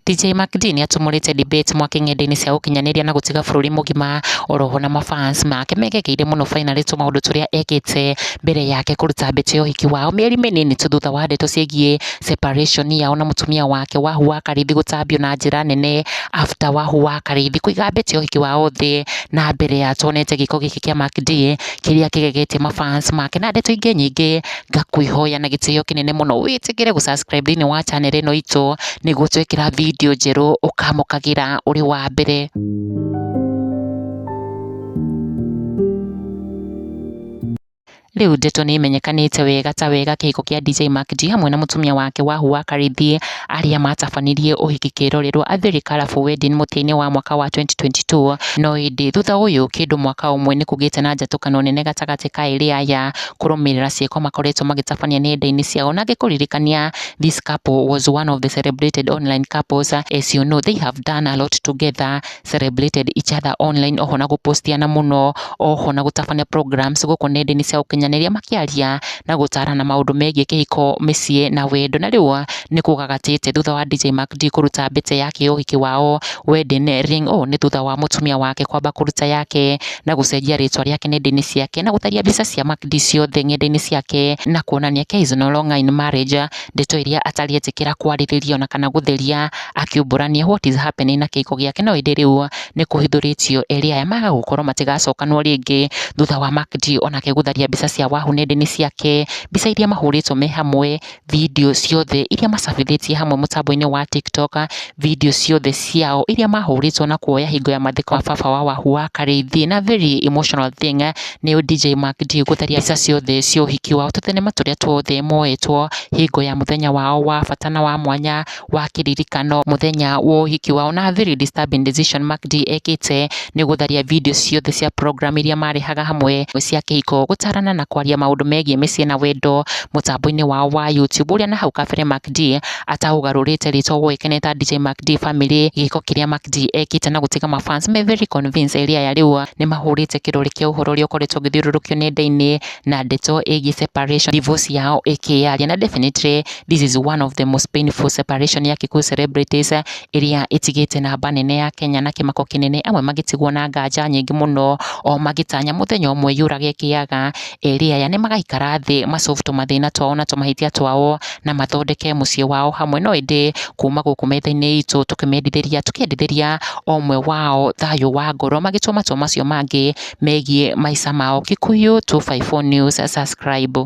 DJ Macdee nĩ atumũrĩte debate mwake ng'enda-inĩ cia ũkinyanĩria na gũtiga bũrũri mũgima oroho na mafans make megegeire mũno finally tu maũndũ tũrĩa ekĩte mbere yake kũruta mbĩtĩ ya ũhiki wao mĩeri mĩnini tu thutha wa ndeto ciĩgiĩ separation yao na mũtumia wake Wahu wa Karithi gũtambio na njĩra nene after Wahu wa Karithi kũiga mbĩtĩ ya ũhiki wao thĩ na mbere ya tonete gĩko gĩkĩ kĩa Macdee kĩrĩa kĩgegetie ma fans make na ndeto ingĩ nyingĩ, ngakwĩhoya na gĩtĩo kĩnene mũno wĩtĩkĩre gũ subscribe thĩinĩ wa channel ĩno itũ, nĩguo twekĩra video njerũ ũkamũkagĩra ũrĩ wa mbere. Rĩu ndeto nĩ imenyekanĩte wega ta wega kĩhiko kĩa DJ Mac D hamwe na mũtumia wake Wahua Karĩithie arĩa matabanirie ũhiki kĩrorerwa a Very Colourful Wedding mũtĩ-inĩ wa mwaka wa 2022 no ĩndĩ thutha ũyũ kĩndũ mwaka ũmwe nĩ kũgĩte na njatũkano nene gatagatĩ ka erĩ aya kũrũmĩrĩra ciĩko makoretwo magĩtabania nenda-inĩ ciao na ngĩkũririkania this couple was one of the celebrated online couples as you know they have done a lot together celebrated each other online oho na gũpostiana mũno oho na gũtabania programs gũkũ nenda-inĩ cia ũkinyanĩria makĩaria na gũtarana maũndũ megiĩ kĩhiko mĩciĩ na wendo na rĩu nĩ kũgagatĩte thutha wa DJ Mac D kũruta mbĩte yake ya ũhiki wao wedding ring ũũ nĩ thutha wa mũtumia wake kwamba kũruta yake na gũcenjia rĩtwa rĩake nenda-inĩ ciake na gũtaria mbica cia Mac D ciothe ng'enda-inĩ ciake na kuonania Kay is no longer in marriage ndeto iria atarĩ etĩkĩra kwarĩrĩria ona kana gũtheria Akiumbũrania what is happening na kĩhiko gĩake no ĩndĩ rĩu nĩ kũhithũrĩtio erĩ aya maga gũkorwo matigacokanwo rĩngĩ thutha wa Makdi onake gũtharia mbica cia wahu nenda-inĩ ciake, mbica iria mahũrĩtwo me hamwe, video ciothe iria macabithĩtie hamwe mũtambo-inĩ wa TikTok, video ciothe ciao iria mahũrĩtwo na kuoya hingo ya mathiko ma baba wa wahu wa Karĩithĩ na very emotional thing nĩ DJ Makdi gũtharia mbica ciothe cia ũhiki wao, tũthenema tũrĩa tuothe moetwo hingo ya mũthenya wao wa bata na wa mwanya. wa kĩririkano mũthenya wa ũhiki wao na very disturbing decision Mac D ekĩte nĩ gũtharia video ciothe cia program iria marehaga hamwe cia kĩhiko gũtarana na kwaria maũndũ megiĩ mĩciĩ na wendo mũtambo-inĩ wao wa YouTube ũrĩa na hau kabere Mac D ataũgarũrĩte rĩtwa woĩkaine ta DJ Mac D Family gĩko kĩrĩa Mac D ekĩte na gũtiga mafans me very convinced area ya rĩu nĩ mahũrĩte kĩrore kĩa ũhoro ũrĩa ũkoretwo ũgĩthiũrũrũkio nenda-inĩ na ndeto ĩgiĩ separation divorce yao ĩkĩyaria na definitely This is one of the most painful separation ya Kikuyu celebrities ĩrĩa ĩtigĩte namba nene ya Kenya na kĩmako kĩnene amwe magĩtigwo na nganja nyingĩ mũno o magĩtanya mũthenya ũmwe yũrage kĩaga erĩ aya nĩ magaikara thĩ masolve tũmathĩna twao na tũmahĩtia twao na mathondeke mũciĩ wao hamwe no ĩndĩ kuma gũkũ metha-inĩ itũ tũkĩmendithĩria tũkĩendithĩria o ũmwe wao thayũ wa ngoro magĩtua matua macio mangĩ megiĩ maica mao. Kikuyu 254 News subscribe.